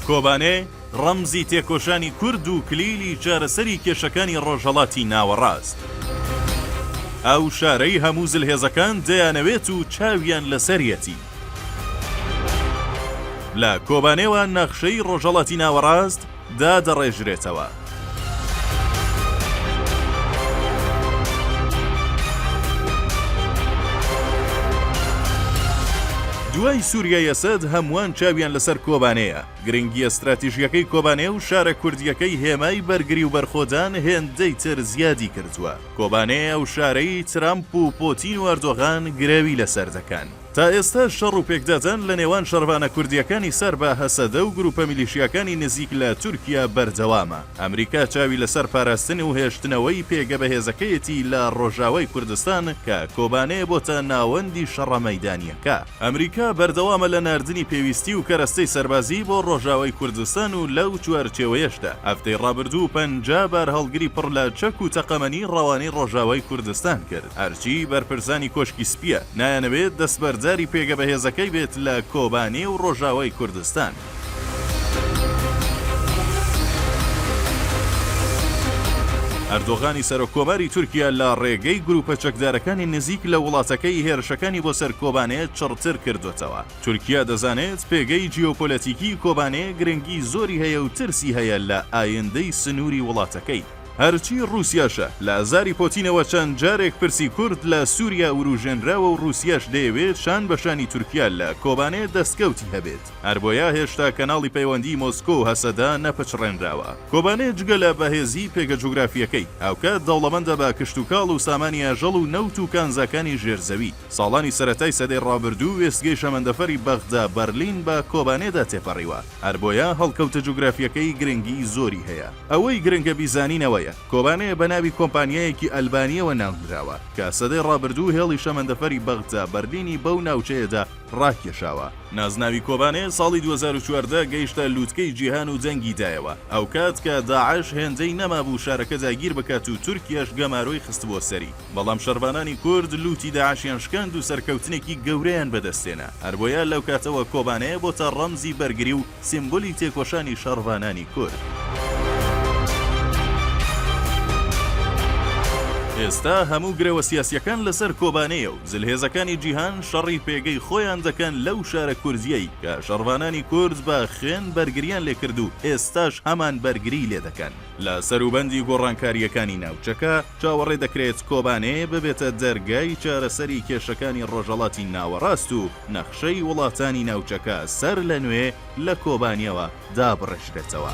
کۆبانێ ڕەمزی تێکۆشانی کورد و کلیلی چارەسەری کێشەکانی ڕۆژهەڵاتی ناوەڕاست. ئەو شارەی هەموو زلهێزەکان دەیانەوێت و چاویان لەسەریەتی. لە کۆبانێوە نەخشەی ڕۆژهەڵاتی ناوەڕاست دادەڕێژرێتەوە. دوای سوریای ئەسەد هەمووان چاویان لەسەر کۆبانێیە، گرنگییە ستراتیژییەکەی کۆبانێ و شارە کوردییەکەی هێمای بەرگری و بەرخۆدان هێندەی تر زیادی کردووە، کۆبانێ ئەو شارەی ترەمپ و پۆتین و ئەردۆغان گرەوی لەسەر دەکەن. تا ئێستا شەڕ و پێکدادان لە نێوان شەڕڤانە کوردییەکانی سەر بە هەسەدە و گرووپە میلیشیاکانی نزیک لە تورکیا بەردەوامە. ئەمریکا چاوی لەسەر پاراستن و هێشتنەوەی پێگە بەهێزەکەیەتی لە ڕۆژاوای کوردستان کە کۆبانێ بۆتە ناوەندی شەڕە مەیدانییەکە. ئەمریکا بەردەوامە لە ناردنی پێویستی و کەرەستەی سەربازی بۆ ڕۆژاوای کوردستان و لەو چوارچێوەیەشدا هەفتەی ڕابردوو پەنجا بارهەڵگری پڕ لە چەک و تەقەمەنی ڕەوانەی ڕۆژاوای کوردستان کرد. هەرچی بەرپرسانی کۆشکی سپییە نایانەوێت دەستبەرداری پێگە بەهێزەکەی بێت لە کۆبانێ و ڕۆژاوای کوردستان. ئەردۆغانی سەرۆک کۆماری تورکیا لە ڕێگەی گروپە چەکدارەکانی نزیک لە وڵاتەکەی هێرشەکانی بۆ سەر کۆبانێ چڕتر کردۆتەوە. تورکیا دەزانێت پێگەی جیۆپۆلەتیکی کۆبانێ گرنگی زۆری هەیە و ترسی هەیە لە ئایندەی سنوری وڵاتەکەی. هەرچی ڕووسیاشە، لە ئازاری پۆتینەوە چەند جارێک پرسی کورد لە سووریا ورووژێنراوە و ڕووسیاش دەیەوێت شان بە شانی تورکیا لە کۆبانێ دەستکەوتی هەبێت، هەربۆیە هێشتا کەناڵی پەیوەندیی مۆسکۆ و هەسەدە نەپچڕێنراوە. کۆبانێ جگە لە بەهێزیی پێگە جوگرافییەکەی، هاوکات دەوڵەمەندە بە کشتوکاڵ و سامانی ئاژەڵ و نەوت و کانزاکانی ژێرزەوی. ساڵانی سەرەتای سەدەی ڕابردوو وێستگەی شەمەندەفەری بەغدا، بەرلین، بە کۆبانێدا تێپەڕیوە، هەربۆیە هەڵکەوتە جوگرافییەکەی گرنگیی زۆری هەیە. ئەوەی گرنگە بیزانین ئەوەیە، کۆبانێ بە ناوی کۆمپانیایەکی ئەلبانییەوە ناونراوە، کە سەدەی ڕابردوو هێڵی شەمەندەفەری بەغدا بەرلینی بەو ناوچەیەدا ڕاکێشاوە. نازناوی کۆبانێ ساڵی دوو هەزار و چواردە گەیشتە لووتکەی جیهان و دەنگی دایەوە، ئەوکات کە داعش هێندەی نەمابوو شارەکە داگیر بکات و تورکیەش گەمارۆی خستبووە سەری، بەڵام شەڕڤانانی کورد لووتی داعشیان شکاند و سەرکەوتنێکی گەورەیان بەدەستهێنا، هەربۆیە لەوکاتەوە کۆبانێ بۆتە ڕەمزی بەرگری و سیمبولی تێکۆشانی شەڕڤانانی کورد. ئێستا هەموو گرەوە سیاسیەکان لەسەر کۆبانێیە و زلهێزەکانی جیهان شەڕی پێگەی خۆیان دەکەن لەو شارە کوردیەی کە شەڕڤانانی کورد بە خوێن بەرگریان لێ کرد و ئێستاش هەمان بەرگری لێ دەکەن. لە سەروبەندی گۆڕانکاریەکانی ناوچەکە چاوەڕێ دەکرێت کۆبانێ ببێتە دەرگای چارەسەری کێشەکانی ڕۆژەڵاتی ناوەڕاست و، نەخشەی وڵاتانی ناوچەکە سەر لە نوێ لە کۆبانیەوە دابڕێژرێتەوە.